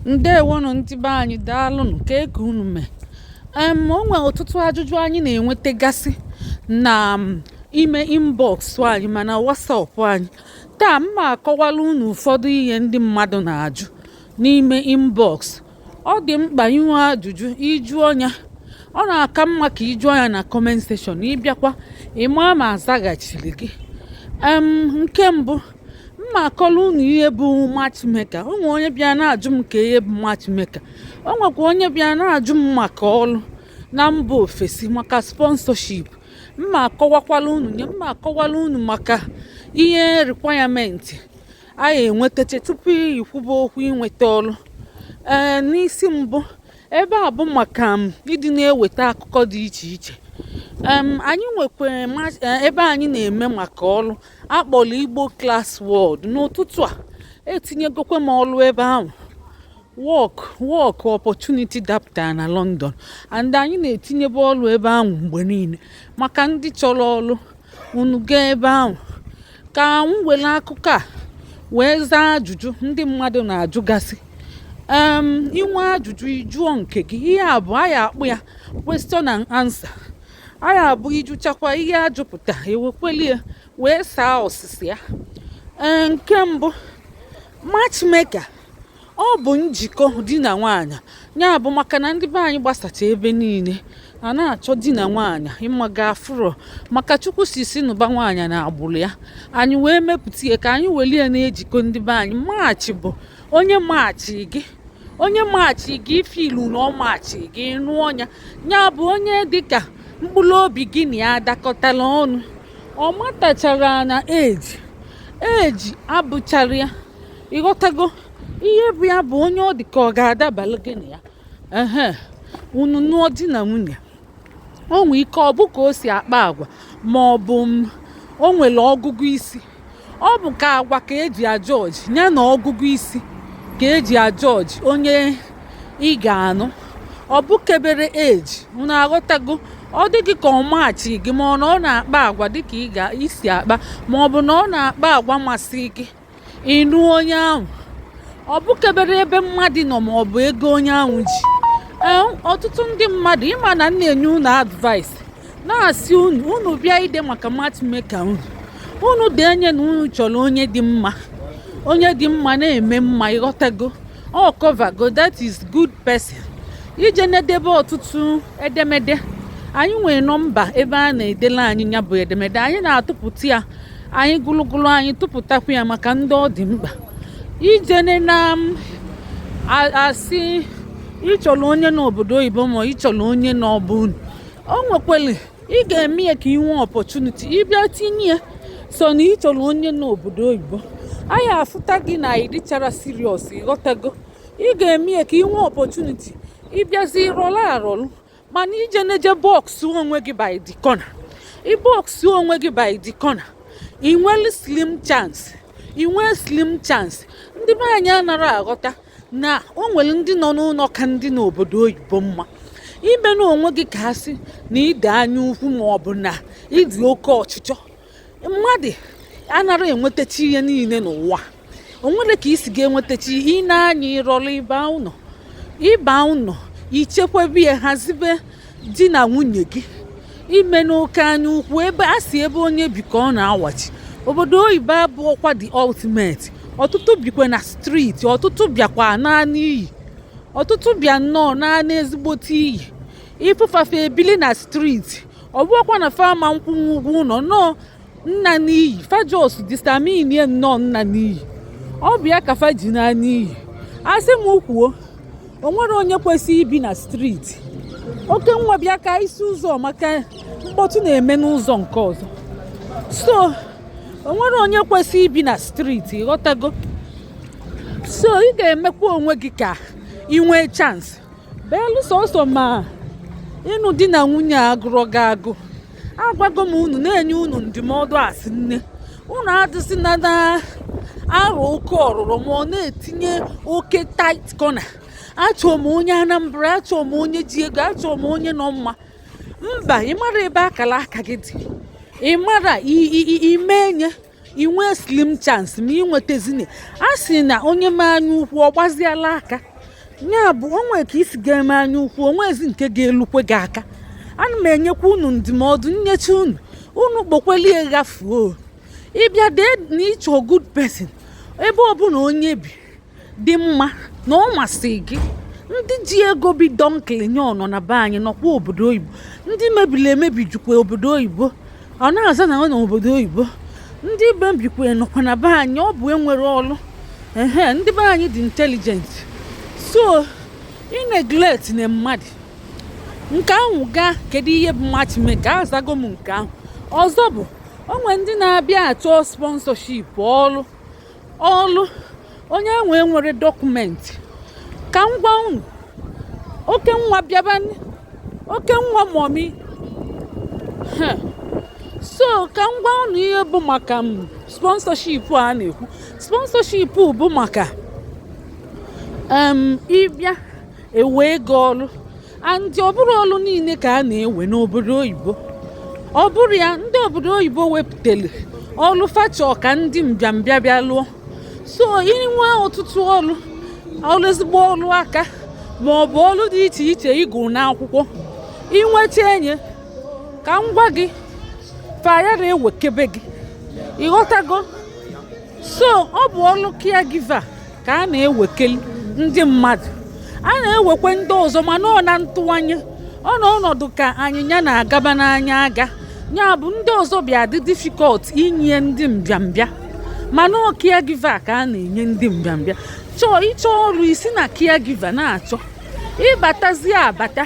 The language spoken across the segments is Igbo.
ndewonụ ndị be anyị daalụnụ kee ka unu mee em o nwere ọtụtụ ajụjụ anyị na-enwetagasị na ime inbox anyị ma na WhatsApp anyị taa m ma akọwala unu ụfọdụ ihe ndị mmadụ na-ajụ n'ime inbox ọ dị mkpa i nwee ajụjụ ị jụọ nya ọ na-aka mma ka ị jụọ nya na comment section ị bịakwa ịma ma a zaghachiri gị nke mbụ m ma akọla unu ihe bụ matchmaker o nwere onye bịa na-ajụ m kee ihe bụ matchmaker o nwekwa onye bịa na-ajụ m maka ọrụ na mba ofesi maka sponsorship m ma akọwakwala unu nya m ma akọwala unu maka ihe requirement a ya-enwetacha tupu i kwube okwu inweta ọrụ ee n'isi mbụ ebe a bụ maka ịdị na-eweta akụkọ dị iche iche anyị nwekwa e, ebe anyị na-eme maka ọrụ a kpọrọ igbo class world n'ụtụtụ a etinyegokwe m ọlụ ebe ahụ work work opportunity dapụtara na london and anyị na-etinyebe ọlụ ebe ahụ mgbe niile maka ndị chọrọ ọlụ unu gaa ebe ahụ ka m were akụkọ a wee zaa ajụjụ ndị mmadụ na-ajụgasị i nwee ajụjụ ị jụọ nke gị ihe a bụ a ya-akpọ ya question and answer anyị abụ ị jụchakwa ihe a jụpụta e wekwelie wee saa ọsịsa ya e, nke mbụ matchmaker ọ bụ njikọ di na nwaanyị ya bụ maka na ndị be anyị gbasacha ebe niile a na-achọ di na nwaanyị ịmaga afụrọ maka chukwu sị sị nụba nwaanyị n'agbụrụ ya anyị wee mepụta ihe ka anyị welie na-ejikọ ndị be anyị match bụ onye match gị onye match gị i feel na ọ match gị nụọ nya ya bụ onye dịka mkpụrụ obi gị na ya dakọtara ọnụ ọ matachara na age age abụchara ya ị ghọtago ihe bụ ya bụ onye ọ dị ka ọ ga-adabara gị na ya ehe unu nụọ di na nwunye o nwee ike ọ bụ ka o si akpa agwa ma ọ bụ o nwere ọgụgụ isi ọ bụ ka agwa ka e ji ajudge ya na ọgụgụ isi ka e ji ajudge onye ị ga-anụ ọ bụkebere age unu aghọtago ọ dị gị ka ọ match gị ma ọ na ọ na-akpa agwa dịka i si akpa ma ọ bụ na ọ na-akpa agwa masị gị ị nụọ onye ahụ ọ bụkebere ebe mmadụ nọ ma ọ bụ ego onye ahụ ji ọtụtụ ndị mmadụ ị ma na m na-enye unu advice na-asị unu unu bịa ide maka matchmaker unu unu denye na unu chọrọ onye dị mma onye dị mma na-eme mma ị ghọtago ọ covergo that is good person i je na-edebe ọtụtụ edemede anyị nwere nọmba ebe a na-edela anyị ya bụ edemede anyị na-atụpụta ya anyị gụlụgụlụ anyị tụpụtakwa ya maka ndị ọ dị mkpa ijene na-asị ị chọrọ onye nọ obodo oyibo ma ị chọrọ onye nọ be unu o nwekwere ị ga-eme ya ka ị nwee opportunity ị bịa tinye ya so na ị chọrọ onye nọ obodo oyibo anyị afụta gị na ị dịchara serious ị ghọtago ị ga-eme ya ka ị nwee opportunity ị bịazi rọlụ arọlụ mana ije neje box onwe gị by the corner ị box onwe gị by the corner ị nwere slim chance ị nwee slim chance ndị be anyị anara aghọta na o nwere ndị nọ n'ụnọ ka ndị nọ obodo oyibo mma imena onwe gị ka a sị na ị dị anya ukwu ma ọ bụ na ị dị oke ọchịchọ mmadụ anara enwetacha ihe niile n'ụwa o nwerọ ka i si ga-enwetacha ihe ị nee anya ị rọrọ ị ba ụnọ ị ba ụnọ i chekwebe ya hazibe di na nwunye gị imena oke anya ukwu ebe a sị ebe onye bi ka ọ na-awachi obodo oyibo abụọkwa the ultimate ọtụtụ bikwa na street ọtụtụ bịakwa naa n'iyi ọtụtụ bịa nnọọ naa n'ezigbote iyi ị fụ fa fa ebili na street ọ bụọkwa na fa ama nkwụnwu ụgwọ ụnọ nnọọ naa n'iyi fa just determinie nnọọ naa n'iyi ọ bụ ya ka fa ji naa n'iyi a sị m kwuo o nwerọ onye kwesịrị ibi na street oke nwa bịa ka isi ụzọ maka mkpọtụ na-eme n'ụzọ nke ọzọ so o nwerọ onye kwesịrị ibi na street ghọtago so ị ga-emekwa onwe gị ka ị nwee chance beelu sọsọ ma ịnụ di na nwunye agụrọ gị agụ agwago m unu na-enye unu ndụmọdụ asị nne unu adịzina na-arọ oke ọrụrọ ma ọ na-etinye oke tight corner achọọ m onye anambra achọọ m onye ji ego achọọ m onye nọ mma mba ị mara ebe akara aka gị dị ị mara ime enye i nwee slim chance ma ị nwetazini a sị na onye mee anya ukwu ọ gbaziela aka nya bụ o nwe ka i si ga-eme anya ukwu o nwezi nke ga-elukwe gị aka ana m enyekwa unu ndụmọdụ nyecha unu unu kpokwelie ghafuo ị bịa dee na ị chọ good person ebe ọbụla onye bi dị mma na ọ masị gị ndị ji ego bi donkilinyo nọ na be anyị nọkwa obodo oyibo ndị mebiri emebi jukwa obodo oyibo ọ na-aza na ọ nọ obodo oyibo ndị mebikwe nọkwa na be anyị ọ bụ enwerọ ọlụ ehe ndị be anyị dị intelligent so ị neglect na mmadụ nke ahụ gaa kedu ihe bụ matchmaker azago m nke ahụ ọzọ bụ o nwe ndị na-abịa achọ sponsorship ọrụ ọlụ onye nwe nwere document ka m gwa unu oke nwa bịaba oke nwa mọmi so ka m gwa unu ihe bụ maka m sponsorship a na-ekwu sponsorship bụ maka ị bịa ewee gị ọlụ and ọ bụrọ ọlụ niile ka a na-ewe n'obodo oyibo ọ bụrụ ya ndị obodo oyibo wepụtara ọlụ fa chọ ka ndị mbịambịa bịa lụọ so i nwe ọtụtụ ọlụ ọlụ ezigbo ọlụ aka ma ọ bụ ọlụ dị iche iche ị gụ n'akwụkwọ i nwecha nya ka m gwa gị fa ayara ewekebe gị ị ghọtago so ọ bụ ọlụ caregiver ka a na-ewekeli ndị mmadụ a na-ewekwe ndị ọzọ mana ọ na ntụwanye ọ na ọnọdụ ka anyịnya na-agaba n'anya aga ya bụ ndị ọzọ bịa dị difficult inye ndị mbịambịa mana ọ caregiver ka a na-enye ndị mbịambịa chọọ ịchọ ọrụ i si na caregiver na-achọ ị batazie abata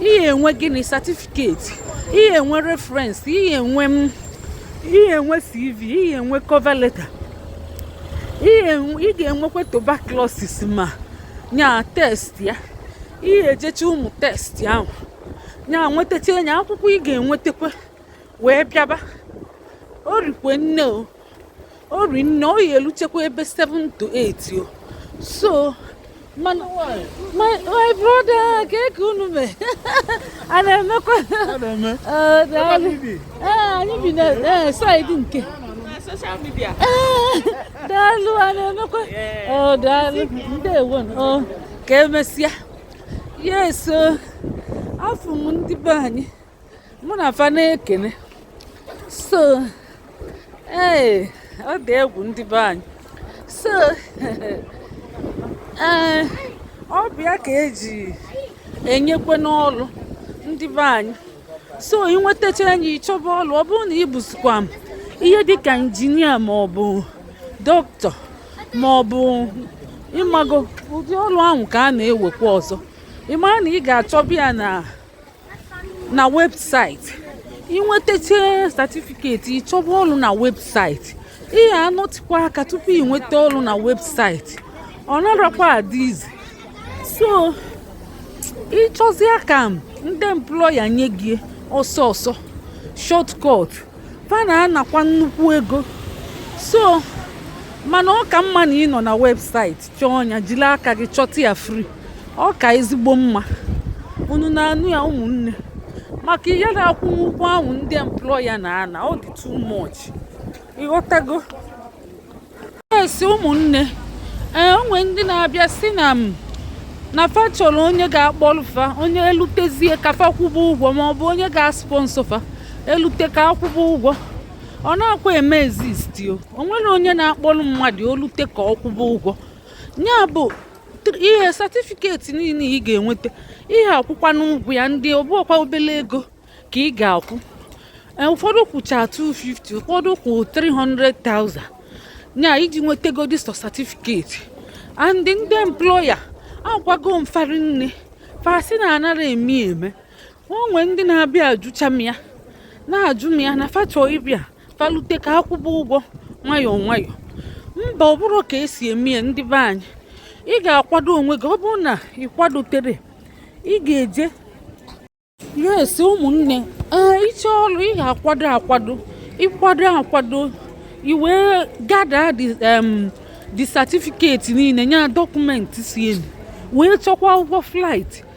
ị ya-enwe gịnị certificate ị ya-enwe reference ị ya-enwe ị ya-enwe cv ị ya-enwe cover letter ị ga-enwekwa tuberculosis ma nya test ya ị ya-ejecha ụmụ test ahụ nya nwetacha nya akwụkwọ ị ga-enwetakwa wee bịaba o rikwe nne o o ri nne ọ ya-eluchekwa ebe 7 to 8 o so my my brother kee ka unu me a na-emekwa anyị bi na side nke social media daalụ a na-emekwa daalụ ndewo ka emesịa yes afụ m ndị be anyị mụ na fa na-ekene so ee ọ dị egwu ndị be anyị so ee ọ bụ ya ka e ji enyekwe n'ọlụ ndị be anyị so ị nwetacha nya ị chọba ọlụ ọ bụrụ na ị bụzikwa m ihe dịka injinia ma ọ bụ dọkịta ma ọ bụ ị mago ụdị ọrụ ahụ ka a na-ewekwa ọzọ ị mara na ị ga-achọba ya na na website ị nwetacha certificate ị chọba ọrụ na website ị ya-anọtịkwa aka tupu ị nweta ọrụ na website ọ narakwa adị easy so ị chọzie ka ndị employer nye gị ọsọ ọsọ shortcut fa na-anakwa nnukwu ego so mana ọ ka mma na ị nọ na website chọọ nya jiri aka gị chọta ya free ọ ka ezigbo mma unu na-anụ ya ụmụnne maka ihe na-akwụ ụgwọ ahụ ndị employer na-ana ọ dị too much ịghọtago yes ụmụnne ee o nwe ndị na-abịa sị na m na fa chọrọ onye ga-akpọlụ fa onye elutezie ka fa kwụba ụgwọ ma ọ bụ onye ga-asponsor fa elute ka a kwụba ụgwọ ọ na-akwa eme exist o o nwere onye na-akpọrọ mmadụ o lute ka ọ kwụba ụgwọ ya bụ ihe certificate niile ị ga-enweta ị ya-akwụkwanụ ụgwọ ya and ọ bụọkwa obele ego ka ị ga-akwụ e, ụfọdụ kwụcha 250 ụfọdụ kwụ 300,000 nya iji nwetagodi sọ certificate and ndị employer agwago m fa rinne fa sị na anara eme eme o nwe ndị na-abịa ajụcha m ya na-ajụ m ya na fa chọ ịbịa fa lute ka a kwụba ụgwọ nwayọọ nwayọọ mba ọ bụrọ ka e si eme ya ndị be anyị ị ga-akwado onwe gị ọ bụrụ na ị kwadotere ị ga-eje yes ụmụnne ee ịchọ ọrụ ị ga-akwado akwado ị kwado akwado i wee gather the certificate niile nya documents ee wee chọkwa ụgwọ flight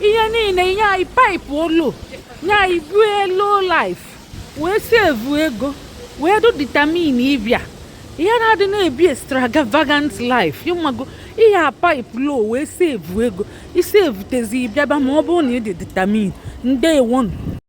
ihe niile nye anyị pipe low nye anyị bie low life wee save ego wee dụ determined ịbịa ihe na-adị na-ebi extravagant life ị mago ihe a pipe low wee save ego ị savetezi bịaba ma ọ bụrụ na ị dị determined ndeewonụ